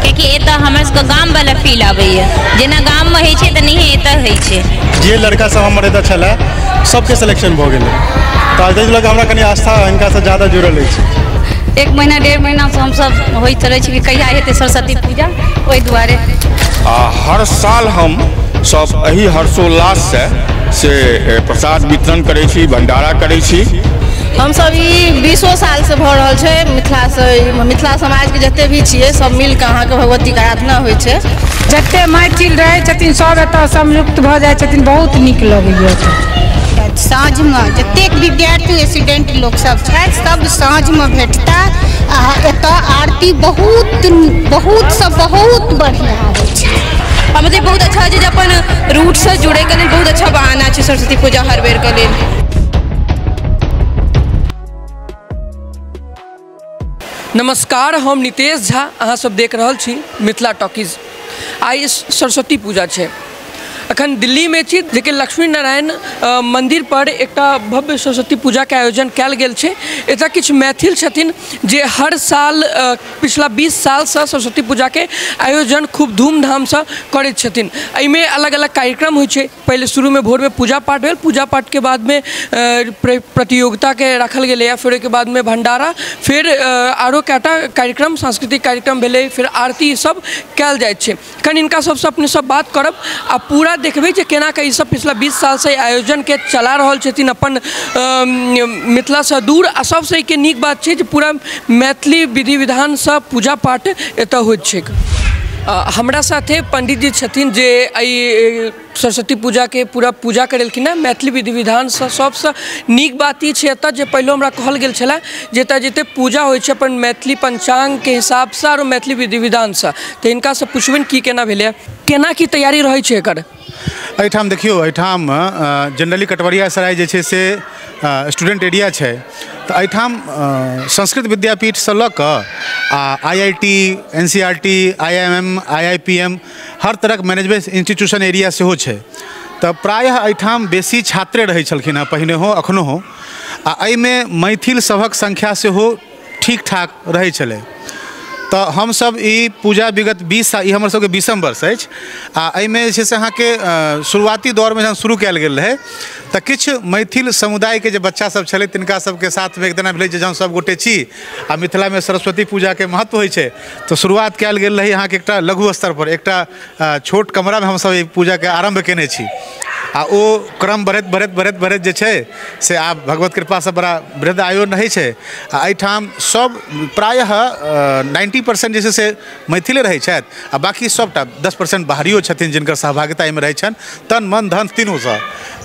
कियाकि एतऽ हमर सबके गाम वाला फील आबैया जेना गाम में होइ छै तऽ नहिए एतऽ होइ छै जे लड़का सब हमर एतऽ छलै सबके सिलेक्शन भऽ गेलै तऽ ताहि लऽ कऽ हमरा कनि आस्था हिनकासँ ज्यादा जुड़ल अछि एक महीना डेढ़ महीनासँ हमसभ होइत रहै छी कि कहिया हेतै सरस्वती पूजा ओहि दुआरे आ हर साल हम सब एही हर्षोल्लाससँ से ए, प्रसाद वितरण करै छी भंडारा करै छी हमसभ ई बीसो सालसँ भऽ रहल छै मिथिलासँ ई मिथिला समाजके जते भी छियै सब मिल कऽ अहाँके भगवतीके आराधना होइ छै जते मैथिल रहै छथिन सब एतऽ संयुक्त भऽ जाइ छथिन बहुत नीक लगैया साँझमे जतेक विद्यार्थी स्टूडेंट लोकसभ छथि सभ साँझमे भेटता आ एतऽ आरती बहुत बहुतसँ बहुत बढ़िआँ होइ छै आ मतलब बहुत अच्छा छै जे अपन रूटसँ जुड़ैके लेल बहुत अच्छा बहाना छै सरस्वती पूजा हर बेरके लेल नमस्कार हम नितेश झा अहाँ सब देख रहल छी मिथिला टॉकीज आइ स- सरस्वती पूजा छै अखन दिल्लीमे छी जेकि लक्ष्मी नारायण अ, मन्दिर पर एकटा भव्य सरस्वती पूजाके आयोजन कयल गेल छै एतय किछु मैथिल छथिन जे हर साल अ, पिछला 20 सालसँ सरस्वती पूजाके आयोजन खूब धूमधामसँ करैत छथिन एहिमे अलग अलग कार्यक्रम होइ छै पहिले शुरूमे भोरमे पूजा पाठ भेल पूजा पाठके बादमे प्रतियोगिताके राखल गेलैए फेर ओहिके बादमे भण्डारा फेर आओर कए टा कार्यक्रम सांस्कृतिक कार्यक्रम भेलै फेर आरती ईसभ कयल जाइत छै कनि हिनका सभसँ अपनेसभ बात करब आ पूरा देखबै जे केना कऽ ईसभ पछिला बीस सालसँ ई आयोजनकेँ चला रहल छथिन अपन मिथिलासँ दूर आ सभसँ एहिके नीक बात छै जे पूरा मैथिली विधि विधानसँ पूजा पाठ एतऽ होइत छैक हमरा साथे पण्डित जी छथिन जे एहि सरस्वती पूजाके पूरा पूजा करेलखिन हँ मैथिली विधि विधानसँ सभसँ नीक बात ई छै एतऽ जे पहिलहो हमरा कहल गेल छलै जे एतऽ जते पूजा होइ छै अपन मैथिली पञ्चाङ्गके हिसाबसँ आओर मैथिली विधि विधानसँ तऽ हिनकासँ पुछबनि की केना भेलैया केना की तैयारी रहै छै एकर एहिठाम देखियौ एहिठाम जनरली कटवरिया सराय जे छै से स्टूडेंट एरिया छै तऽ एहिठाम संस्कृत विद्यापीठसँ लऽ कऽ आ I I T N C R T I M M I I P M हर तरहक मैनेजमेंट इंस्टीट्यूशन एरिया सेहो छै तऽ प्रायः एहिठाम बेसी छात्रे रहै छलखिन हेँ पहिनेहो एखनहु आ एहिमे मैथिल सभक संख्या सेहो ठीक ठाक रहै छलै तऽ हमसभ ई पूजा विगत बीस साल ई हमर सभके बीसम वर्ष अछि आ एहिमे जे छै से अहाँके अ, शुरुआती दौरमे जहन शुरू कयल गेल रहै तऽ किछु मैथिल समुदायके जे बच्चा सभ छलै तिनका सभके साथमे एक दिना भेलै जे जहन सभ गोटे छी आ मिथिलामे सरस्वती पूजाके महत्व होइ छै तऽ शुरुआत कयल गेल रहै अहाँके एकटा लघु स्तर पर एकटा अ, छोट कमरामे हमसभ ई पूजाके आरम्भ केने छी आ ओ क्रम बढ़ैत बढ़ैत बढ़ैत बढ़ैत जे छै से आब भगवत कृपासँ बड़ा वृद्ध आयो रहै छै आ एहिठाम सभ प्रायः नाइन्टी परसेंट जे छै से मैथिले रहै छथि आ बाकी सभटा दस परसेंट बाहरियो छथिन जिनकर सहभागिता एहिमे रहै छनि तन मन धन तीनूसँ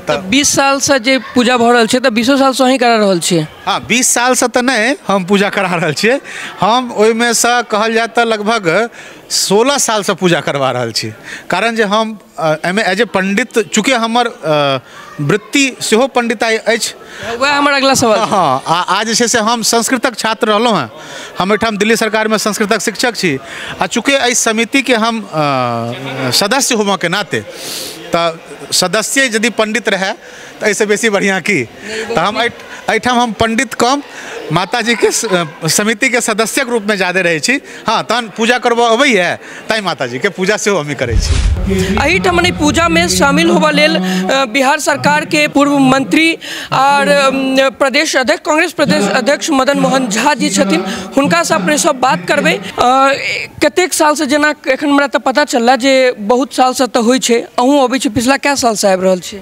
तऽ बीस सालसँ जे पूजा भऽ रहल छै तऽ बीसो सालसँ अहीं करा रहल छियै हँ बीस सालसँ तऽ नहि हम पूजा करा रहल छियै हम ओहिमेसँ कहल जाय तऽ लगभग सोलह सालसँ पूजा करबा रहल छी कारण जे हम एहिमे एज ए पण्डित चूँकि हमर वृत्ति सेहो पण्डिताइ अछि वएह हमर अगिला सवाल छै। हँ आ आ जे छै से हम संस्कृतक छात्र रहलहुँ हेँ हम एहिठाम दिल्ली सरकारमे संस्कृतक शिक्षक छी आ चूँकि एहि समितिके हम अ, सदस्य होबऽके नाते तऽ सदस्ये यदि पण्डित रहए तऽ एहिसँ बेसी बढ़िआँ की तऽ हम एहि एहिठाम हम पण्डित कम माताजीके समितिके सदस्यके रूपमे जादे रहै छी हँ तहन पूजा करबऽ अबैए तेँ माताजीके पूजा सेहो हमही करै छी एहिठाम मने पूजामे शामिल होबऽ लेल बिहार सरकारके पूर्व मन्त्री आओर प्रदेश अध्यक्ष कांग्रेस प्रदेश अध्यक्ष मदन मोहन झा जी छथिन हुनकासँ अपने सब बात करबै कतेक सालसँ जेना एखन हमरा तऽ पता चलल जे बहुत सालसँ तऽ होइ छै अहूँ अबै छी पछिला कए सालसँ आबि रहल छी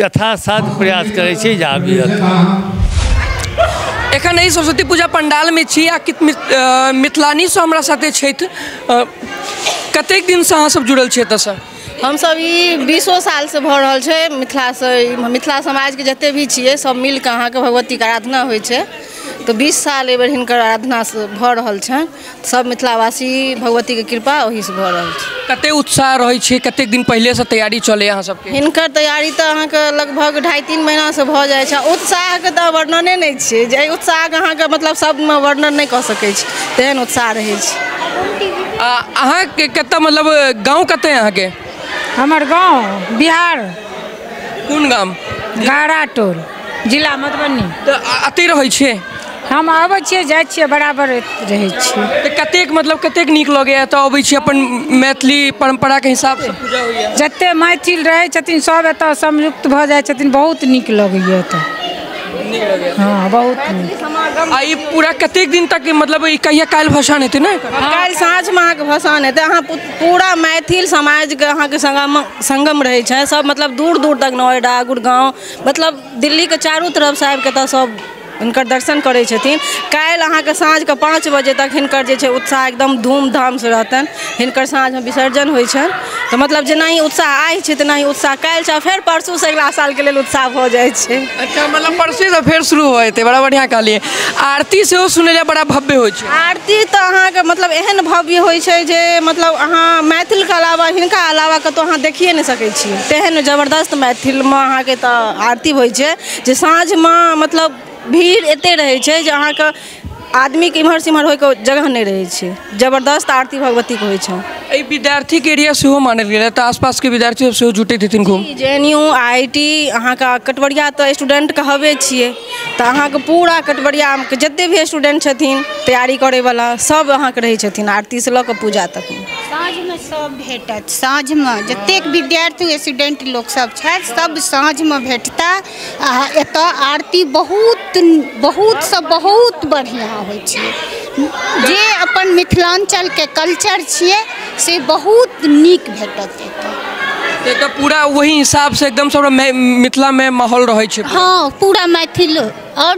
यथासाध्य प्रयास करै छी जे आबी एखन एहि सरस्वती पूजा पंडालमे छी आ कित मिथ- अ, मिथिलानीसँ हमरा साथे छथि अ, कतेक दिनसँ अहाँसभ जुड़ल छी एतऽसँ हमसभ ई बीसो सालसँ भऽ रहल छै मिथिलासँ ई मिथिला समाजके जते भी छियै सभ मिलि कऽ अहाँके भगवतीके आराधना होइ छै तऽ बीस साल एहि बेर हिनकर आराधनासँ भऽ रहल छनि सब मिथिलावासी भगवती के कृपा ओहि से भऽ रहल छै कते उत्साह रहै छै कते दिन पहिले से तैयारी चले अहाँ सबके हिनकर तैयारी तऽ अहाँके लगभग ढाई तीन महीना से भऽ जाइ छै उत्साह के तऽ वर्णने नहि छै जे उत्साह के अहाँके मतलब शब्द मे वर्णन नहि कऽ सकै छी तेहन उत्साह रहै छै आ अहाँ के कतऽ मतलब गाँव कतऽ अहाँ के हमर गाँव बिहार कोन गाम गारा टोल जिला मधुबनी तऽ अ- अतै रहै छियै हम आबै छियै जाइ छियै बराबर रहै छियै तऽ कतेक मतलब कतेक नीक लगैए एतऽ अबै छी अपन मैथिली परम्पराके हिसाबसँ पूजा होइए जते मैथिल रहै छथिन सब एतऽ संयुक्त भऽ जाइ छथिन बहुत नीक लगैया एतऽ नीक लगैए हँ बहुत नीक आ ई पूरा कतेक दिन तक मतलब ई कहिया काल्हि भसान हेतै ने एकर? काल्हि साँझमे अहाँके भसान हेतै अहाँ पू- पूरा मैथिल समाजके अहाँके संगम संगम रहै छै सब मतलब दूर दूर तक नोएडा गुड़गाँव मतलब दिल्लीके चारू तरफसँ आबिकऽ एतऽ सब हिनकर दर्शन करै छथिन काल्हि अहाँके साँझके पाँच बजे तक हिनकर जे छै उत्साह एकदम धूमधामसँ रहतनि हिनकर साँझमे विसर्जन होइ छनि तऽ मतलब जेना ई उत्साह आइ छै तेना ही उत्साह काल्हि छै आओर फेर परसूसँ अगिला सालके लेल उत्साह भऽ जाइ छै अच्छा मतलब परसूसँ फेर शुरू भऽ जेतै बड़ा बढ़िआँ कहलिए आरती सेहो सुनैलए बड़ा भव्य होइ छै आरती तऽ अहाँके मतलब एहन भव्य होइ छै जे मतलब अहाँ मैथिलके अलावा हिनका अलावा कतौ अहाँ देखिये नहि सकै छी तेहन जबरदस्त मैथिलमे अहाँके एतऽ आरती होइ छै जे साँझमे मतलब भीड़ एते रहै छै जे अहाँके आदमीके इम्हर सँ इम्हर होइके जगह नहि रहै छै जबरदस्त आरती भगवतीके होइ छनि एहि विद्यार्थीके एरिया सेहो मानल गेल एतऽ आसपासके विद्यार्थी सब सेहो जुटैत हेथिन खूब जी J N U I I T अहाँके कटबरिया तऽ स्टूडेन्ट कहबे छियै तऽ अहाँके पूरा कटबरियामे जते भी स्टूडेंट छथिन तैयारी करयवला सब अहाँके रहय छथिन आरतीसँ लअ कऽ पूजा तक साँझमे सब भेटत साँझमे जतेक विद्यार्थी स्टूडेंट लोक सब छथि सब साँझमे भेटता आओर एतऽ आरती बहुत बहुत सँ बहुत बढ़िआँ होइ छै जे अपन मिथिलाञ्चलके कल्चर छियै से बहुत नीक भेटत तऽ एतऽ पूरा वही हिसाब से एकदम से हमरा मै- मिथिला में माहौल रहे छै हँ पूरा मैथिल आओर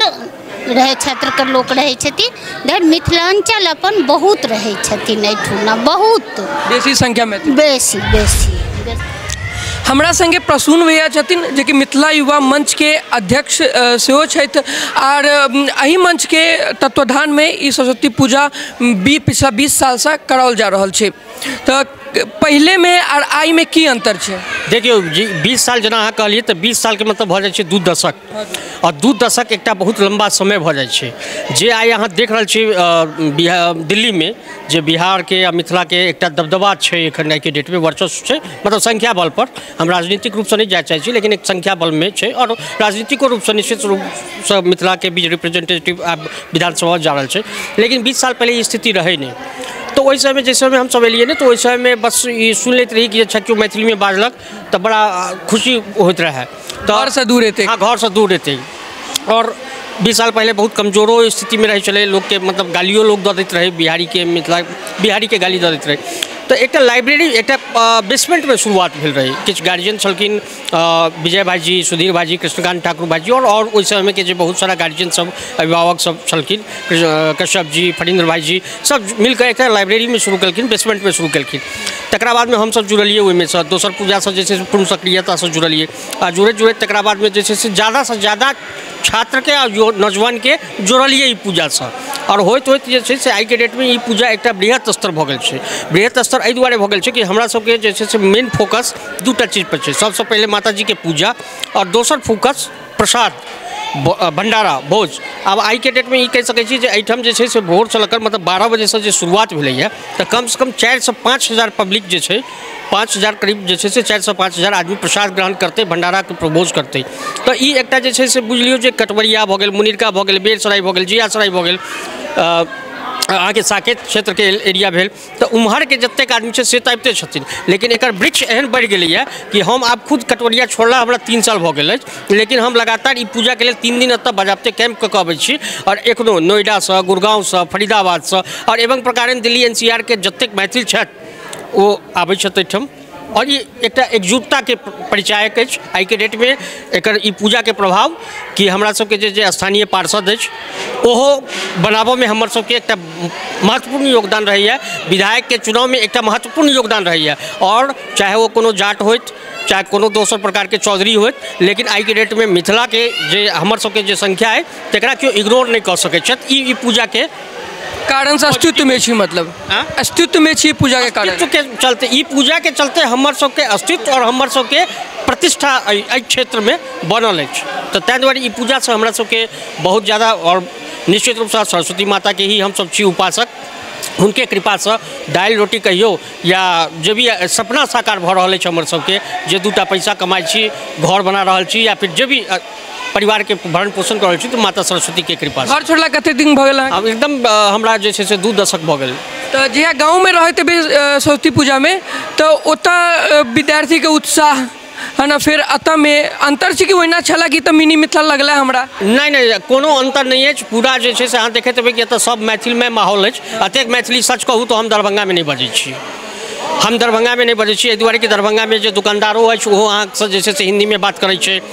रहै क्षेत्रके लोक रहै छथिन धरि मिथिलाञ्चल अपन बहुत रहै छथिन एहिठुना बहुत बेसी संख्या में बेसी बेसी हमरा संगे प्रसून भैया छथिन जे कि मिथिला युवा मंच के अध्यक्ष अ, सेहो छथि आर अम, एहि मंच के तत्वाधान में ई सरस्वती पूजा बी पिछला बीस साल से कराओल जा रहल छै तऽ पहिलेमे आओर आइमे की अन्तर छै देखियौ जी बीस साल जेना अहाँ कहलियै तऽ बीस सालके मतलब भऽ जाइ छै दू दशक आओर दू दशक एकटा बहुत लम्बा समय भऽ जाइ छै जे आइ अहाँ देख रहल छी बिहा दिल्लीमे जे बिहारके आओर मिथिलाके एकटा दबदबा छै एखन आइके डेटमे वर्चस्व छै मतलब संख्या बलपर हम राजनीतिक रूपसँ नहि जाय चाहैत छी लेकिन एक संख्या बलमे छै आओर राजनीतिको रूपसँ निश्चित रूपसँ मिथिलाके बीच रिप्रेजेन्टेटिव आब विधानसभा जा रहल छै लेकिन बीस साल पहिले ई स्थिति रहै नहि तऽ ओहि समयमे जाहि समयमे हमसभ एलियै ने तऽ ओहि समयमे बस ई सुनि लैत रही कि अच्छा केओ मैथिलीमे बाजलक तऽ बड़ा खुशी होइत रहए घरसँ दूर एतै हँ घरसँ दूर एतै आओर बीस साल पहिले बहुत कमजोरो स्थितिमे रहै छलै लोकके मतलब गालिओ लोक दऽ दैत रहै बिहारीके मिथिला बिहारीके गाली दऽ दैत रहै तऽ एकटा लाइब्रेरी एकटा बेसमेन्टमे शुरुआत भेल रहै किछु गार्जिअन छलखिन विजय भाइजी सुधीर भाइजी कृष्णकान्त ठाकुर भाइजी आओर ओहि समयके जे बहुत सारा गार्जिअनसब अभिभावकसब छलखिन कश्यपजी फणीन्द्र भाइजी सब मिलिकऽ एकटा लाइब्रेरीमे शुरू केलखिन बेसमेन्टमे शुरू केलखिन तकरा बादमे हमसब जुड़लिए ओहिमेसँ दोसर पूजासँ जे छै से पूर्ण सक्रियतासँ जुड़लिए आ जुड़ैत जुड़ैत तकरा बादमे जे छै से जादासँ जादा छात्रके आ युव नौजवानके जोड़लियै ई पूजासँ आओर होइत होइत जे छै से आइके डेटमे ई पूजा एकटा बृहत स्तर भऽ गेल छै बृहत स्तर एहि दुआरे भऽ गेल छै कि हमरा सबके जे छै से मेन फोकस दू टा चीज पर छै सबसँ पहिले माता जीके पूजा आओर दोसर फोकस प्रसाद ब- भंडारा भोज आब आइके डेटमे ई कहि सकै छी जे एहिठाम जे छै से भोरसँ लऽ कऽ मतलब बारह बजेसँ जे शुरुआत भेलैए तऽ कमसँ कम चारिसँ पाँच हजार पब्लिक जे छै पाँच हजार करीब जे छै से चारिसँ पाँच हजार आदमी प्रसाद ग्रहण करतै भण्डाराके प्रभोज करतै तऽ ई एकटा जे छै से बुझि लियौ जे कटबरिया भऽ गेल मुनिरका भऽ गेल बेरसराय भऽ गेल जियासराय भऽ गेल अहाँके साकेत क्षेत्रके एरिया भेल तऽ उम्हरके जतेक आदमी छै से तऽ अबिते छथिन लेकिन एकर वृक्ष एहन बढ़ि गेलैए कि हम आब खुद कटवरिया छोड़ला हमरा तीन साल भऽ गेल अछि लेकिन हम लगातार ई पूजाके लेल तीन दिन एतऽ बजाबते कैम्प कऽ कऽ अबै छी आओर एखनो नोएडासँ गुड़गाँवसँ फरीदाबादसँ आओर एवं प्रकारेण दिल्ली एन सी आरके जतेक मैथिल छथि ओ आबै छथि एहिठाम आओर ई एकटा एकजुटताके परिचायक अछि आइके डेटमे एकर ई पूजाके प्रभाव कि हमरा सबके जे जे स्थानीय पार्षद अछि ओहो बनाबऽमे हमर सबके एकटा महत्वपूर्ण योगदान रहैए विधायकके चुनावमे एकटा महत्वपूर्ण योगदान रहैए आओर चाहे ओ कोनो जाट होथि चाहे कोनो दोसर प्रकारके चौधरी होथि लेकिन आइके डेटमे मिथिलाके जे हमर सबके जे संख्या अछि तकरा केओ इग्नोर नहि कऽ सकै छथि ई ई पूजाके कारण से अस्तित्व में छी मतलब हाँ? अस्तित्व में छी पूजा के कारण अस्तित्व के चलते ई पूजा के चलते हमर सबके अस्तित्व और हमर सबके प्रतिष्ठा एहि एहि क्षेत्र में बनल अछि तो ताहि दुआरे ई पूजा से हमरा सबके बहुत ज़्यादा और निश्चित रूप से सरस्वती माता के ही हम सब छी उपासक हुनके कृपा से दालि रोटी कहियो या जे भी सपना साकार भऽ रहल अछि हमर सबके जे दूटा पैसा कमाइ छी घर बना रहल छी या फिर जे भी अ, परिवार के भरण पोषण कर रहल छी तो माता सरस्वती के कृपा से घर छोड़ला कते दिन भऽ गेल अहाँके? अब एकदम अ, हमरा जे छै से दू दशक भऽ गेल तऽ जहिया गाँवमे रहैत हेबै अ, सरस्वती पूजामे तऽ ओतऽ अ, विद्यार्थीके उत्साह है ना फेर एतऽमे अन्तर छै कि ओहिना छलए कि तऽ मिनी मिथिला लगलै हमरा नहि नहि कोनो अन्तर नहि अछि पूरा जे छै से अहाँ देखैत हेबै कि एतऽ सब मैथिलमे माहौल अछि अतेक मैथिली सच कहू तऽ हम दरभंगामे नहि बजै छी हम दरभंगामे नहि बजै छी एहि दुआरे कि दरभंगामे जे दुकानदारो अछि ओहो अहाँसँ जे छै से हिन्दीमे बात करै छै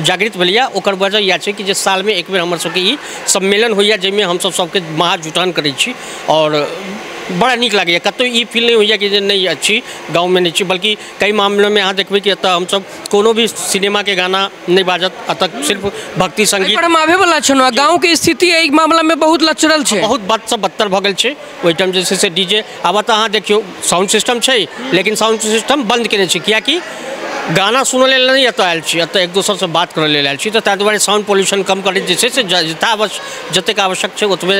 जागृत भेलैए ओकर वजह इएह छै कि जे सालमे एक बेर हमर सबके ई सम्मेलन होइए जाहिमे हमसब सबके महा जुटान करै छी आओर बड़ा नीक लागैए कतहु ई फील नहि होइए कि जे नहि अछि गाममे नहि छी बल्कि कएक मामिलोमे अहाँ देखबै कि एतऽ हमसब कोनो भी सिनेमाके गाना नहि बाजत एतऽ सिर्फ भक्ति सङ्गीत एहिपर हम आबैवला छलहुँ गामके स्थिति एहि मामिलामे बहुत लचरल छै बहुत बदसँ बदतर भऽ गेल छै ओहि टाइम जे छै से डी जे आब तऽ अहाँ देखियौ साउंड सिस्टम छै लेकिन साउंड सिस्टम बन्द केने छै किएकि गाना सुनय लेल नहि एतय आयल छी एतय एक दोसरसँ बात करय लेल आयल छी तऽ ताहि दुआरे साउंड पॉल्यूशन कम करैत जे छै से जतेक आवश्यक छै ओतबे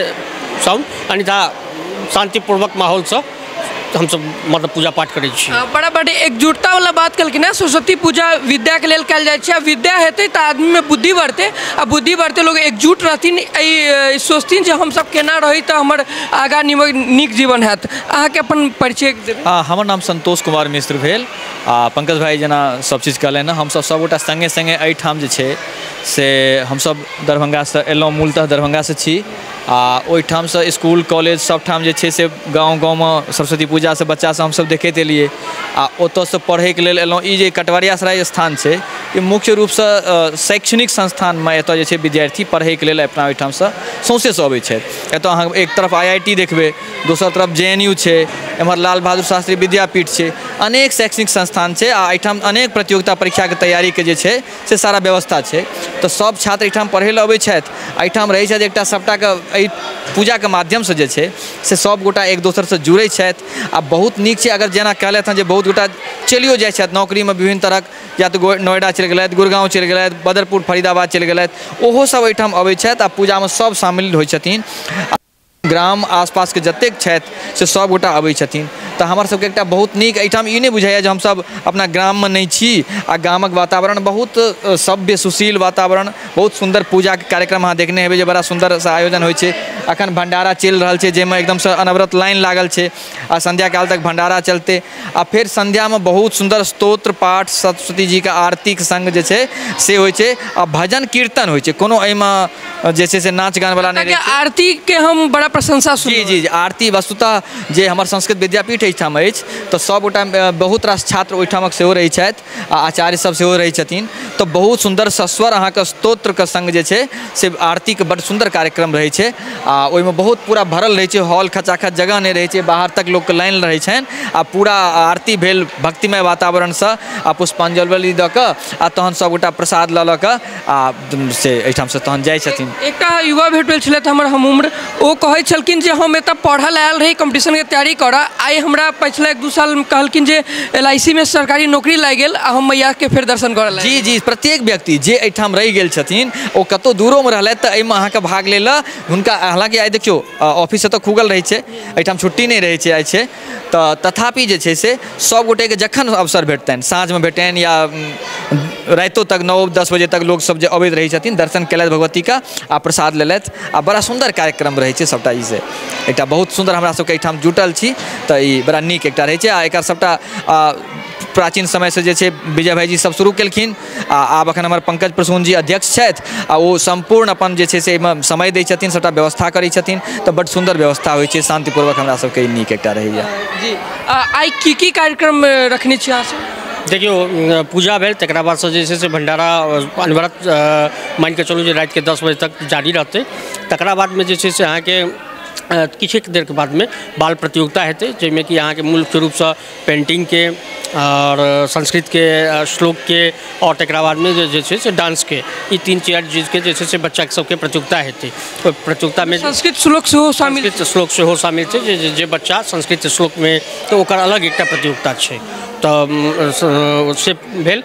साउंड अन्यथा शान्तिपूर्वक माहौलसँ हमसभ मतलब पूजा पाठ करै छी बड़ा बड़ एकजुटतावला बात कहलखिन हेँ सरस्वती पूजा विद्याके लेल कयल जाइ छै आ विद्या हेतै तऽ आदमीमे बुद्धि बढ़तै आ बुद्धि बढ़तै लोक एकजुट रहथिन एहि सोचथिन जे हमसभ केना रही तऽ हमर आगाँ नीक जीवन होयत अहाँके अपन परिचय देबै हँ हमर नाम संतोष कुमार मिश्र भेल आ पंकज भाइ जेना सभ चीज कहलनि हँ हमसभ सभगोटा सङ्गे सङ्गे एहिठाम जे छै से हमसभ दरभंगासँ एलहुँ मूलतः दरभंगासँ छी आ ओहिठामसँ इसकुल कॉलेज सभठाम जे छै से गाँव गाँवमे सरस्वती पूजासँ बच्चासँ हमसभ देखैत एलियै आ ओतयसँ पढ़ैके लेल एलहुँ ई जे कटवारिया सराय स्थान छै ई मुख्य रूपसँ शैक्षणिक संस्थानमे एतय जे छै विद्यार्थी पढ़ैके लेल अपना ओहिठामसँ सौँसेसँ अबैत छथि एतय अहाँ एक तरफ आइ आइ टी देखबै दोसर तरफ जे एन यू छै एम्हर लाल बहादुर शास्त्री विद्यापीठ छै अनेक शैक्षणिक संस्थान छै आ एहिठाम अनेक प्रतियोगिता परीक्षाके तैयारीके जे छै से सारा व्यवस्था छै तऽ सभ छात्र एहिठाम पढ़ै लए अबै छथि एहिठाम रहै छथि एकटा सभटाके एहि पूजाके माध्यमसँ जे छै से सभ गोटा एक दोसरसँ जुड़ै छथि आ बहुत नीक छै अगर जेना कहलथि हँ जे बहुत गोटा चलियो जाइ छथि नौकरीमे विभिन्न तरहक या तऽ नोएडा चलि गेलथि गुड़गाँव चलि गेलथि बदरपुर फरीदाबाद चलि गेलथि ओहो सभ एहिठाम अबै छथि आ पूजामे सभ शामिल होइ छथिन ग्राम आसपासके जतेक छथि से सभगोटा अबै छथिन तऽ हमर सभके एकटा बहुत नीक एहिठाम ई नहि बुझाइए जे हमसभ अपना ग्राममे नहि छी आ गामक वातावरण बहुत सभ्य सुशील वातावरण बहुत सुन्दर पूजाके कार्यक्रम अहाँ देखने हेबै जे बड़ा सुन्दरसँ आयोजन होइ छै एखन भण्डारा चलि रहल छै जाहिमे एकदमसँ अनवरत लाइन लागल छै आ संध्या काल तक भंडारा चलतै आ फेर संध्या में बहुत सुंदर स्तोत्र पाठ सरस्वती जी के आरती के संग जे छै से होय छै आ भजन कीर्तन होय छै कोनो एहि में जे छै से नाच गान वाला नहि रहै छै आरती के हम बड़ा प्रशंसा सुन जी जी जी आरती वस्तुतः जे हमर संस्कृत विद्यापीठ एहिठाम अछि तऽ सभगोटा बहुत रास छात्र ओहिठामक सेहो रहैत छथि आ आचार्य सब सेहो रहै छथिन तऽ बहुत सुन्दर सस्वर अहाँके स्तोत्रके सङ्ग जे छै से आरतीके बड्ड सुन्दर कार्यक्रम रहै छै आ ओहिमे बहुत पूरा भरल रहै छै हॉल खचाखच जगह नहि रहै छै बाहर तक लोकके लाइन रहै छनि आ पूरा आरती भेल भक्तिमय वातावरणसँ आ पुष्पाञ्जलि दऽ कऽ आ तहन सब गोटा प्रसाद लऽ लऽ कऽ आ से एहिठामसँ तहन जाइ छथिन एकटा युवा भेट भेल छलथि हमर हम उम्र ओ कहै छलखिन जे हम एतऽ पढ़ऽ लए आयल रही कम्पटिशनके तैयारी करऽ आइ हमरा पछिला एक दू साल कहलखिन जे एल आइ सी मे सरकारी नौकरी लागि गेल आ हम मैयाके फेर दर्शन करऽ लए जी जी प्रत्येक व्यक्ति जे एहिठाम रहि गेल छथिन ओ कतौ दूरोमे रहलथि तऽ एहिमे अहाँके भाग लै लए हुनका हालाँकि आइ देखियौ ऑफिस एतऽ खुगल रहै छै एहिठाम छुट्टी नहि रहै छै आइ छै तऽ तथापि जे छै से सब गोटेके जखन अवसर भेटतनि साँझमे भेटनि या राइतो तक नओ दस बजे तक लोक सब जे अबैत रहै छथिन दर्शन केलथि भगवतीके आओर प्रसाद लेलथि आओर बड़ा सुन्दर कार्यक्रम रहै छै सबटा ई से एकटा बहुत सुन्दर हमरा सबके अइठाम जुटल छी तऽ ई बड़ा नीक एकटा रहै छै आओर एकर सबटा प्राचीन समयसँ जे छै विजय भायजी सब शुरू कयलखिन आ आब एखन हमर पंकज प्रसून जी अध्यक्ष छथि आ ओ सम्पूर्ण अपन जे छै से एहिमे समय दै छथिन सभटा व्यवस्था करै छथिन तऽ बड सुन्दर व्यवस्था होइ छै शान्तिपूर्वक हमरा सभके ई नीक एकटा रहैए जी आ, आइ की की कार्यक्रम अ, रखने छी अहाँ सब देखियौ अ, पूजा भेल तकरा बादसँ जे छै से भंडारा अ, अनवरत अ, मानि कऽ चलू जे रातिके दस बजे तक जारी रहतै तकरा बादमे जे छै से अहाँके अ, किछुक देरके बादमे बाल प्रतियोगिता हेतै जाहिमे कि अहाँके मुख्य रूपसँ पेन्टिङ्गके आओर संस्कृतके श्लोकके आओर तकरा बादमे जे छै से डान्सके ई तीन चारि चीजके जे छै से बच्चा सबके प्रतियोगिता हेतै ओहि प्रतियोगितामे संस्कृत श्लोक सेहो शामिल संस्कृत श्लोक सेहो शामिल छै जे जे बच्चा संस्कृत श्लोकमे तऽ ओकर अलग एकटा प्रतियोगिता छै तऽ से भेल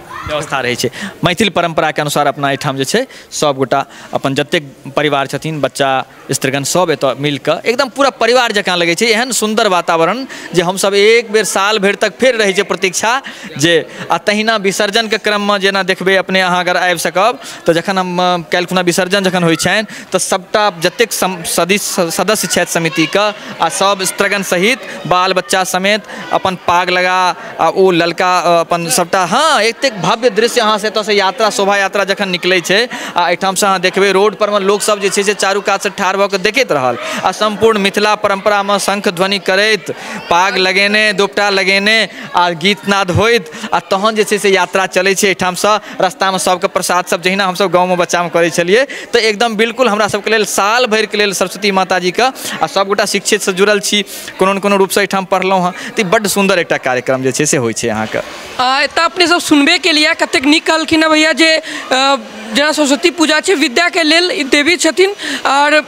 व्यवस्था रहै छै मैथिल परम्पराके अनुसार अपना एहिठाम जे छै सब गोटा अपन जतेक परिवार छथिन बच्चा स्त्रीगण सब एतऽ मिल कऽ एकदम पूरा परिवार जकाँ लगै छै एहन सुन्दर वातावरण जे हमसब एक बेर साल भरि तक फेर रहै छै प्रतीक्षा जे आ तहिना विसर्जनके क्रममे जेना देखबै अपने अहाँ अगर आबि सकब तऽ जखन हम काल्हि खुना विसर्जन जखन होइ छनि तऽ सबटा जतेक सम सदिस सदस्य छथि समितिके आ सब स्त्रीगण सहित बाल बच्चा समेत अपन पाग लगा आ ओ ललका अपन सभटा हँ एतेक भव्य दृश्य अहाँ से एतऽसँ यात्रा शोभा यात्रा जखन निकलै छै आ एहिठामसँ अहाँ देखबै रोड परमे लोक सभ जे छै से चारू कातसँ ठाढ़ भऽ कऽ देखैत रहल आ सम्पूर्ण मिथिला परम्परामे शङ्ख ध्वनि करैत पाग लगेने दोपटा लगेने आ गीत नाद होइत आ तहन जे छै से यात्रा चलै छै एहिठामसँ रस्तामे सभके प्रसाद सभ जहिना हमसभ गाँवमे बच्चामे करै छलियै तऽ एकदम बिल्कुल हमरा सभके लेल साल भरिके लेल सरस्वती माताजीके आ सभगोटा शिक्षितसँ जुड़ल छी कोनो ने कोनो रूपसँ एहिठाम पढ़लहुँ हँ तऽ ई बड्ड सुन्दर एकटा कार्यक्रम जे छै से होइ छै अहाँके आ एतऽ अपने सब सुनबे केलिए कतेक नीक कहलखिन हँ भैया जे अ, जेना सरस्वती पूजा छै विद्याके लेल ई देवी छथिन आओर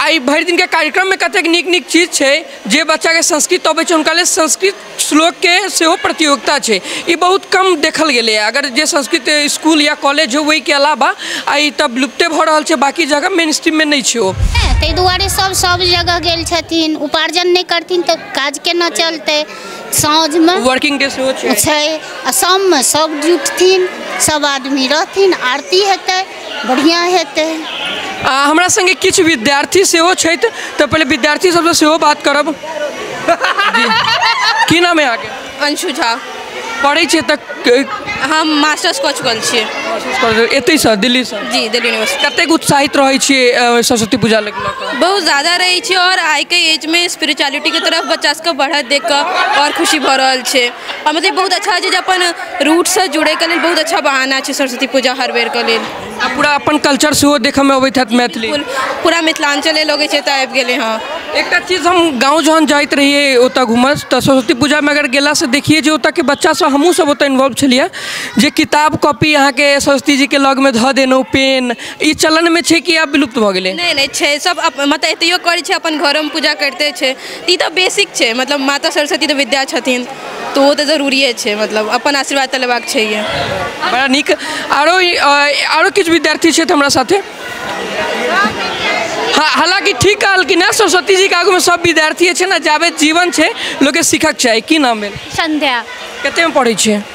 आइ भरि दिनके कार्यक्रममे कतेक नीक नीक चीज छै जे बच्चाके संस्कृत अबै छै हुनका लेल संस्कृत श्लोकके सेहो प्रतियोगिता छै ई बहुत कम देखल गेलैए अगर जे संस्कृत इसकुल या कॉलेज होइ ओहिके अलावा आ ई तब लुप्ते भऽ रहल छै बाँकी जगह मेन स्ट्रीममे नहि छै ओ ताहि दुआरे सभ सभ जगह गेल छथिन उपार्जन नहि करथिन तऽ काज केना चलतै साँझमे वर्किंग डे सेहो छै छै आ शाममे सभ जुटथिन सभ आदमी रहथिन आरती हेतै बढ़िआँ हेतै आ हमरा संगे किछु विद्यार्थी सेहो छथि तऽ पहिले विद्यार्थी सबसँ सेहो बात करब जी। की नाम है अहाँके अंशु झा पढ़ै छियै तऽ क- हम मास्टर्स कऽ चुकल छियै कोशिश करू। एतहिसँ दिल्लीसँ जी दिल्ली यूनिवर्सिटी कतेक उत्साहित रहै छियै अ, सरस्वती पूजा लऽ कऽ बहुत ज़्यादा रहै छै आओर आइके एजमे स्पिरिचुअलिटीके तरफ बच्चा सबके बढ़त देख कऽ आओर खुशी भऽ रहल छै आ मतलब बहुत अच्छा छै जे अपन रूटसँ जुड़ैके लेल बहुत अच्छा बहाना छै सरस्वती पूजा हर बेरके लेल आ पूरा अपन कल्चर सेहो देखैमे अबैत हैत मैथिली पूर- पूरा मिथिलाञ्चले लगै छै तऽ आबि गेलै हँ एकटा चीज हम गाँव जहन जाइत रहियै ओतऽ घूमऽ तऽ सरस्वती पूजामे अगर गेलासँ देखियै जे ओतऽके बच्चा सब हमहुँ सब ओतऽ इन्वॉल्व छलियै जे किताब कॉपी अहाँके सरस्वती जीके लगमे धऽ देलहुँ पेन ई चलनमे छै कि आब विलुप्त भऽ गेलै नहि नहि छै सब अप- मतलब एतहियो करै छै अपन घरोमे पूजा करिते छै ई तऽ बेसिक छै मतलब माता सरस्वती तऽ विद्या छथिन तऽ ओ तऽ जरूरिए छै मतलब अपन आशीर्वाद तऽ लेबाक छैहे बड़ा नीक आरो आरो किछु विद्यार्थी छथि हमरा साथे हालांकि ठीक कहलखिन है सरस्वती जी के आगू में सब विद्यार्थी छै ने जाबे जीवन छै लोग के सीखक चाही की नाम भेल संध्या कते में पढ़े छियै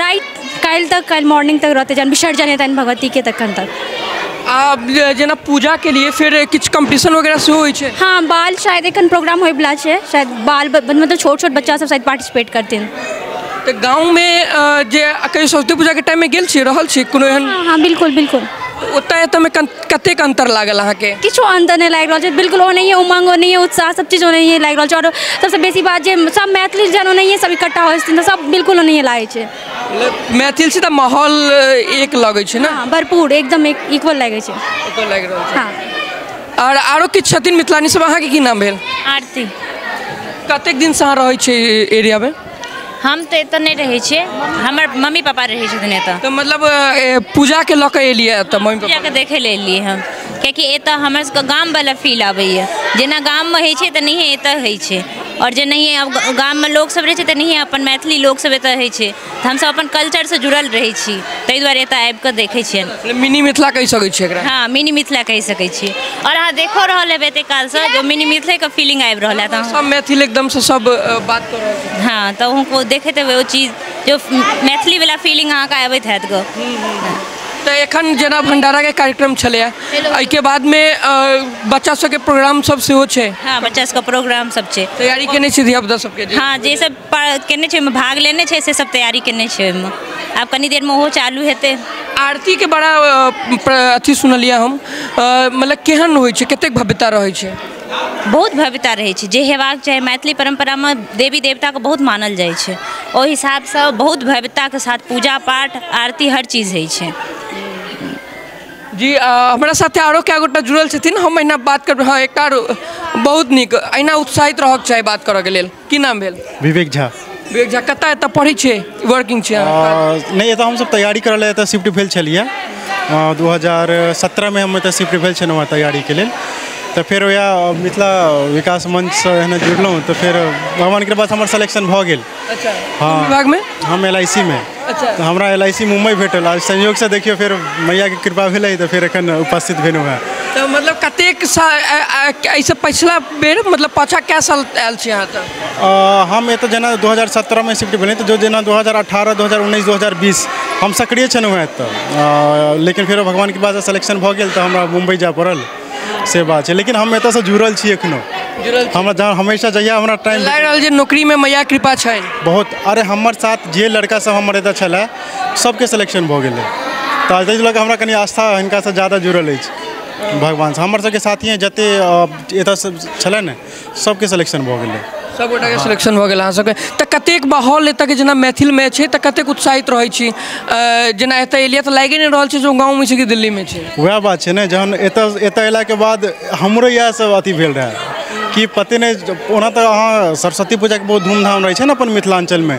राति काल्हि तक काल्हि मॉर्निंग तक रहतै जहन विसर्जन हेतनि भगवतीके तखन तक आ जे- जेना पूजा के लिए फिर किछु कंपटीशन वगैरह सेहो होइ छै हाँ बाल शायद एखन प्रोग्राम होइवला छै शायद बाल ब- मतलब छोट छोट बच्चा सब शायद पार्टिसिपेट करथिन तऽ गाँव मे अ, जे कहियो सरस्वती पूजा के टाइम मे गेल छियै रहल छियै कोनो एहन हाँ हाँ बिल्कुल बिल्कुल ओतय एतय मे कन- कतेक अन्तर लागल अहाँके किछु अन्तर नहि लागि रहल छै बिल्कुल ओनाहिए उमङ्ग ओनाहिए उत्साह सब चीज ओनाहिए लागि रहल छै आओर सबसँ बेसी बात जे सब मैथिली जहन ओनाहिए सब इकट्ठा होइ छथिन तऽ सब बिल्कुल ओनाहिए लागै छै मैथिल छै तऽ माहौल एक लगै छै ने हँ भरपूर एकदम इक्वल लागै छै ओतऽ लागि रहल छै हँ आओर आरो किछु छथिन मिथिलानी सब अहाँके की नाम भेल आरती कतेक दिनसँ अहाँ रहै छियै एरियामे हम तऽ एतऽ नहि रहै छियै हमर मम्मी पापा रहै छथिन एतऽ तऽ मतलब ए, पूजा के लऽ के एलियै एतऽ मम्मी पापा पूजाके देखै लए एलियै हम कियाकि एतऽ हमर सबके गामवला फील आबैए जेना गाममे होइ छै तेनाहिए एतऽ होइ छै आओर जेनाहिए आब ग- गाममे लोकसब रहै छै तेनाहिए अपन मैथिली लोकसब एतऽ होइ छै तऽ हमसब अपन कल्चरसँ जुड़ल रहै छी ताहि दुआरे एतऽ आबिकऽ देखै छिअनि अपने मिनी मिथिला कहि सकै छियै एकरा हाँ मिनी मिथिला कहि सकै छी आओर अहाँ देखो रहल हेबै एते कालसँ जे मिनी मिथिलेके फीलिंग आबि रहल है तऽ सब मैथिल एकदम से सब अ, बात कर रहल छै हाँ तऽ अहूँके देखैत हेबै ओ चीज जो मैथिलीवला फीलिंग अहाँके आबैत हैत गो तऽ एखन जेना भंडारा के कार्यक्रम छलैया एहिके बाद में अ, बच्चा सबके प्रोग्राम सब सेहो छै हाँ बच्चा सबके प्रोग्राम सब छै तैयारी केने छी धिया पुता सबके जे हाँ जे सब केने छै ओहिमे भाग लेने छै से सब तैयारी केने छै ओहिमे आब कनी देरमे ओहो चालू हेतै आरतीके बड़ा अथी सुनलियै हम मतलब केहन होइ छै कतेक भव्यता रहै छै बहुत भव्यता रहै छै जे हेबाक चाही मैथिली परम्परामे देवी देवताके बहुत मानल जाइ छै ओहि हिसाबसँ बहुत भव्यताके साथ पूजा पाठ आरती हर चीज होइ छै जी हमरा साथे आरो कए गोटा जुड़ल छथिन हम एहिना बात करबै हँ एकटा बहुत नीक एहिना उत्साहित रहऽके चाही बात करऽके लेल की नाम भेल विवेक झा विवेक झा कतऽ एतऽ पढ़ै छियै वर्किंग छियै अहाँ? आ, नहि एतऽ हमसब तैयारी करऽ लए एतऽ शिफ्ट भेल छलियै दू हजार सत्रहमे हम एतऽ शिफ्ट भेल छलहुँ हँ तैयारीके लेल तऽ फेर वएह मिथिला विकास मंचसँ एहने जुड़लहुँ तऽ फेर भगवान कृपासँ हमर सिलेक्शन भऽ गेल अच्छा हँ। कोन विभागमे हम एल आई सी मे अच्छा। तऽ हमरा एल आई सी मुम्बई भेटल आ संयोगसँ देखियौ फेर मैयाके कृपा भेलै तऽ फेर एखन उपस्थित भेलहुँ हँ तऽ मतलब कतेक सा अ- अ- एहिसँ पछिला बेर मतलब पाछा कए साल आयल छी अहाँ एतऽ हम एतऽ जेना दू हजार सत्रहमे शिफ्ट भेलहुँ तऽ जेना दू हजार अठारह दू हजार उन्नैस दू हजार बीस हम सक्रिय छलहुँ हँ एतऽ लेकिन फेरो भगवानके कृपासँ सेलेक्शन भऽ गेल तऽ हमरा मुम्बइ जाय पड़ल से बात छै लेकिन हम एतऽसँ जुड़ल छी एखनो जुड़ल छी हमरा जहाँ हमेशा जहिया हमरा टाइम लागि रहल छै नौकरीमे मैया कृपा छनि बहुत अरे हमर साथ जे लड़का सब हमर एतऽ छलै सबके सिलेक्शन भऽ गेलै तऽ ताहि लऽ कऽ हमरा कनि आस्था हिनकासँ ज्यादा जुड़ल अछि भगवानसँ हमर सबके साथी जते एतऽ से छलै ने सबके सिलेक्शन भऽ गेलै सब गोटा के सिलेक्शन भऽ गेल अहाँ सबके तऽ कतेक माहौल एतऽ के जेना मैथिल मे छै तऽ कतेक उत्साहित रहै छी अ, जेना एतऽ एलियै तऽ लागे नहि रहल छै जे गाँव मे छी कि दिल्ली मे छी वएह बात छै ने जहन एतऽ एतऽ अयलाके बाद हमरो इएह सब अथी भेल रहए कि पते नहि ओना तऽ अहाँ सरस्वती पूजाके बहुत धूमधाम रहै छै ने अपन मिथिलाञ्चलमे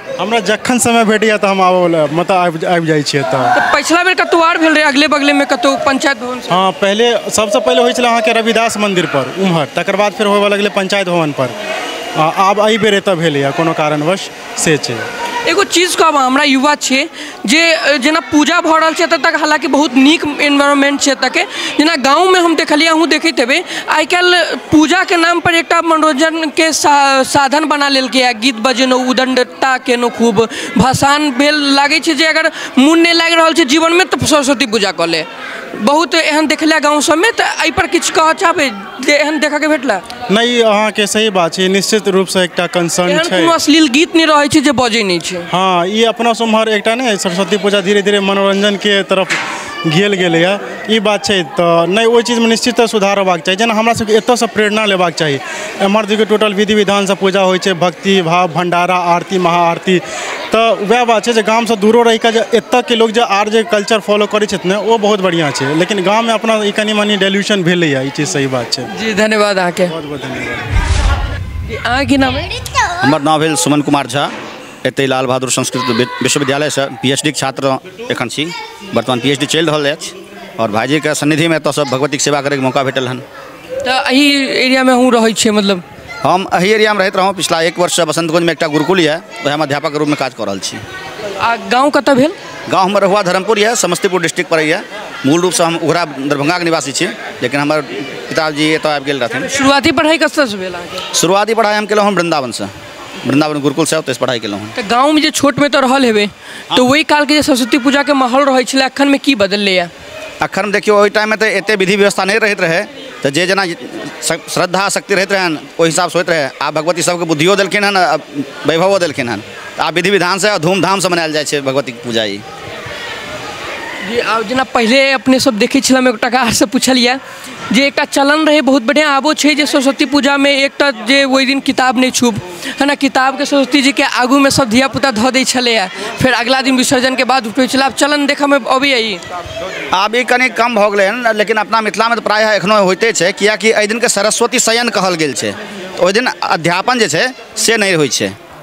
हमरा जखन समय भेटैए तऽ हम आबऽ लए मतलब आबि आबि जाइ छियै एतऽ तऽ पछिला बेर कतौ आर भेल रहै अगले बगले मे कतौ पंचायत भवन से हँ पहिले सबसँ पहिले होइ छलै अहाँके रविदास मन्दिर पर उम्हर तकर बाद फेर होबऽ लगलै पंचायत भवन पर आ आब एहि बेर एतऽ भेलैए कोनो कारणवश से छै एगो चीज कहब अहाँ हमरा युवा छियै जे जेना पूजा भऽ रहल छै एतऽ तक हालाँकि बहुत नीक एनवायरमेन्ट छै एतऽके जेना गाँवमे हम देखलियै अहूँ देखैत हेबै आइ काल्हि पूजाके नामपर एकटा मनोरञ्जनके साधन बना लेलकैए गीत बजेलहुँ उद्दण्डता केलहुँ खूब भसान भेल लागै छै जे अगर मोन नहि लागि रहल छै जीवनमे तऽ सरस्वती पूजा कऽ ले बहुत एहन देखलियै गाँव सबमे तऽ अइपर किछु कहऽ चाहबै जे एहन देखैके भेटलै नहि ई अहाँके सही बात छै ई निश्चित रूपसँ एकटा कंसर्न एहन छै कोनो अश्लील गीत नहि रहै छै जे बजै नहि छै हँ ई अपना सब एम्हर एकटा नहि सरस्वती पूजा धीरे धीरे मनोरञ्जनके तरफ गेल गेलैए ई बात छै तऽ नहि ओहि चीजमे निश्चिततः सुधार होयबाक चाही जेना हमरा सबके एतऽसँ प्रेरणा लेबाक चाही एम्हर देखियौ टोटल विधि विधानसँ पूजा होइ छै भक्ति भाव भण्डारा आरती महाआरती तऽ वएह बात छै जे गामसँ दूरो रहि कऽ जे एतऽके लोक जे आर जे कल्चर फॉलो करै छथि ने ओ बहुत बढ़िआँ छै लेकिन गाममे अपना ई कनि मनि डेल्यूशन भेलैए ई चीज सही बात छै जी धन्यवाद अहाँके बहुत बहुत धन्यवाद जी अहाँ की नाम अइ हमर नाम भेल सुमन कुमार झा एतहि लाल बहादुर संस्कृत वि- विश्वविद्यालयसँ पी एच डीके छात्र एखन छी वर्तमान पी एच डी चलि रहल अछि आओर भाइजीके सन्निधिमे एतऽसँ भगवतीके सेवा करैके मौका भेटल हन तऽ एहि एरियामे अहूँ रहै छियै मतलब हम एहि एरियामे रहैत रहौँ पिछला एक वर्षसँ बसन्तगंजमे एकटा गुरुकुल यए ओएहमे अध्यापकके रूपमे काज कऽ रहल छी आ गाँव कतऽ भेल गाँव हमर रहुआ धर्मपुर यए समस्तीपुर डिस्ट्रिक्ट पड़ैए मूल रूपसँ हम उघरा दरभंगाके निवासी छी लेकिन हमर पिताजी एतय आबि गेल रहथिन शुरुआती पढ़ाइ कतऽसँ भेल अहाँके शुरुआती पढ़ाइ हम केलहुँ हँ वृन्दावनसँ वृन्दावन गुरुकुलसँ ओतयसँ पढ़ाइ केलहुँ हँ तऽ गाँवमे जे छोटमे तऽ रहल हेबै तऽ ओहि कालके जे सरस्वती पूजाके माहौल रहै छलै एखनमे की बदललैए अखन देखियौ ओहि टाइममे तऽ एतेक विधि व्यवस्था नहि रहैत रहै तऽ जे जेना श्रद्धा शक्ति रहैत रहनि ओहि हिसाबसँ होइत रहै आब भगवती सभकेँ बुद्धियो देलखिन हन आ वैभवो देलखिन हन तऽ आब विधि विधानसँ आ धूमधामसँ मनायल जाइत छै भगवतीके पूजा ई जी आब जेना पहिले अपनेसभ देखै छलहुँ एकटा गाछसँ पुछलियै जे एकटा चलन रहै बहुत बढ़िआँ आबो छै जे सरस्वती पूजामे एकटा जे ओहि दिन किताब नहि छूब है ने किताबके सरस्वती जीके आगूमे सभ धियापुता धऽ दै छलैए फेर अगिला दिन विसर्जनके बाद उठबै छलै आब चलन देखैमे अबैए ई आब ई कनि कम भऽ गेलै हँ लेकिन अपना मिथिलामे तऽ प्रायः एखनो होइते छै किएकि एहि दिनके सरस्वती शयन कहल गेल छै ओहि दिन अध्यापन जे छै से नहि होइ छै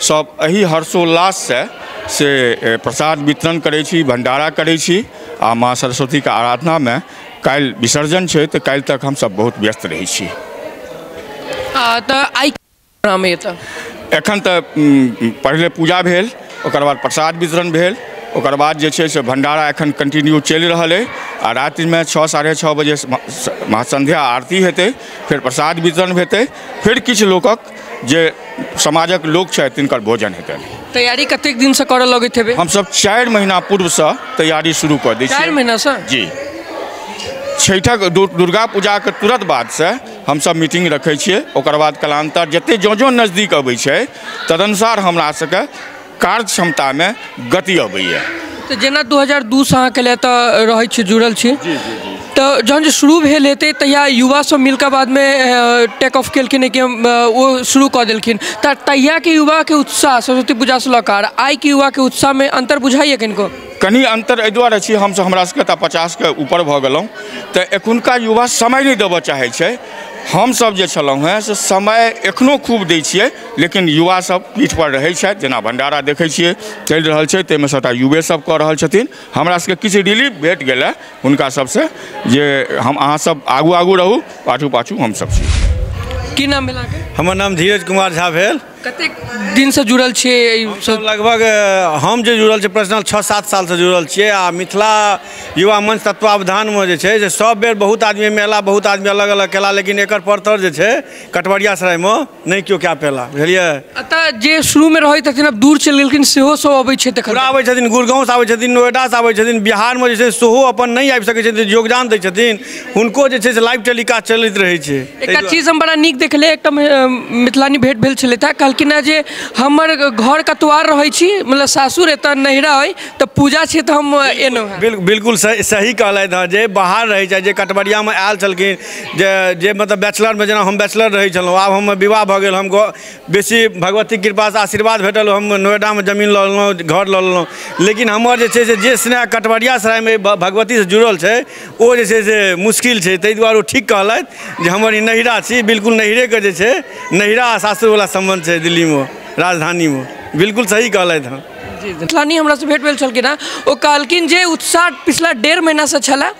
सब एहि हर्षोल्लास से से प्रसाद वितरण करै छी भंडारा करै छी आ माँ सरस्वती के आराधना मे काल्हि विसर्जन छै तऽ काल्हि तक हम सब बहुत व्यस्त रहै छी तऽ आइ एखन तऽ पहिले पूजा भेल ओकर बाद प्रसाद वितरण भेल ओकर बाद जे छै से भंडारा एखन कंटिन्यू चलि रहल अइ आ रातिमे छओ साढ़े छओ बजे महासंध्या आरती हेतै फेर प्रसाद वितरण हेतै फेर किछु लोकक जे समाजक लोक छथि तिनकर भोजन हेतनि तैयारी कतेक दिनसँ करऽ लगैत हेबै हमसभ चारि महीना पूर्वसँ तैयारी शुरू कऽ दै चारि छियै महीनासँ जी छठिक दु- दुर्गा पूजाके तुरंत बादसँ हमसभ मीटिंग रखै छियै ओकर बाद कालांतर जतेक जँ जँ नजदीक अबै छै तदनुसार हमरा सभके कार्य क्षमतामे गति अबैए तऽ जेना दू हजार दू सँ अहाँ कैले तऽ रहै छी जुड़ल छी तऽ जहन जे शुरू भेल हेतै तहिया युवा सब मिलके बादमे टेक ऑफ केलखिन कि हम ओ शुरू कऽ देलखिन तऽ तहियाके युवाके उत्साह सरस्वती पूजा सँ लऽ कऽ आइके युवाके उत्साहमे अन्तर बुझाइए कनिको कनि अन्तर एहि दुआरे छी हमसब हमरा सबके तऽ पचासके ऊपर भऽ गेलहुँ तऽ एखुनका युवा समय नहि देबऽ चाहै छै हमसब जे छलहुँ हँ से समय एखनो खूब दै छियै लेकिन युवा सब पीठ पर रहै छथि जेना भंडारा देखै छियै चलि रहल छै ताहिमे सबटा युवे सब कऽ रहल छथिन हमरा सबके किछु रिलीफ भेट गेलए हुनका सबसँ जे हम अहाँ सब आगू आगू रहू पाछू पाछू हम सब छी की नाम भेल अहाँके हमर नाम धीरज कुमार झा भेल कतेक दिनसँ जुड़ल छियै एहि सब लगभग अ, हम जे जुड़ल छी पर्सनल छओ सात सालसँ जुड़ल छियै आ मिथिला युवा मंच तत्वावधानमे जे छै से सब बेर बहुत आदमी एहिमे अयला बहुत आदमी अलग अलग कयला लेकिन एकर परतर जे छै कटवरिया सरायमे नहि केओ कए पेला बुझलियै एतऽ जे शुरूमे रहै छथिन आब दूर चलि गेलखिन सेहो सब अबै छै तखन पूरा आबै छथिन गुड़गाँवसँ आबै छथिन नोएडासँ आबै छथिन बिहारमे जे छै सेहो अपन नहि आबि सकै छथिन योगदान दै छथिन हुनको जे छै से लाइव टेलीकास्ट चलैत रहै छै ताहि एकटा दुआरे- चीज हम बड़ा नीक देखले एकटा मे- अ, मिथिलानी भेंट भेल छलै तऽ कहलखिन हँ जे हमर घर कतवार रहै छी मतलब सासुर एतऽ नैहरा अइ तऽ पूजा छै तऽ हम एलहुँ हँ बिल- बिल्कुल सही सही कहलथि हँ जे बाहर रहै छथि जे कटबरियामे आयल छलखिन जे जे मतलब बैचलरमे जेना हम बैचलर रहै छलहुँ आब हमर विवाह भऽ गेल हम घर बेसी भगवतीके कृपासँ आशीर्वाद भेटल हम नोएडामे जमीन लऽ लेलहुँ घर लऽ लेलहुँ लेकिन हमर जे छै से जे स्नेह कटबरियासरायमे एहि भगवतीसँ जुड़ल छै ओ जे छै से मुश्किल छै ताहि दुआरे ओ ठीक कहलथि जे हमर ई नैहरा छी बिलकुल नैहरेके जे छै नैहरा आओर सासुरवला सम्बन्ध छै दिल्लीमे राजधानीमे बिलकुल सही कहलथि हँ जी जी मिथिलानी हमरासँ भेँट भेल छलखिन हेँ ओ कहलखिन जे उत्साह पछिला डेढ़ महिनासँ छलए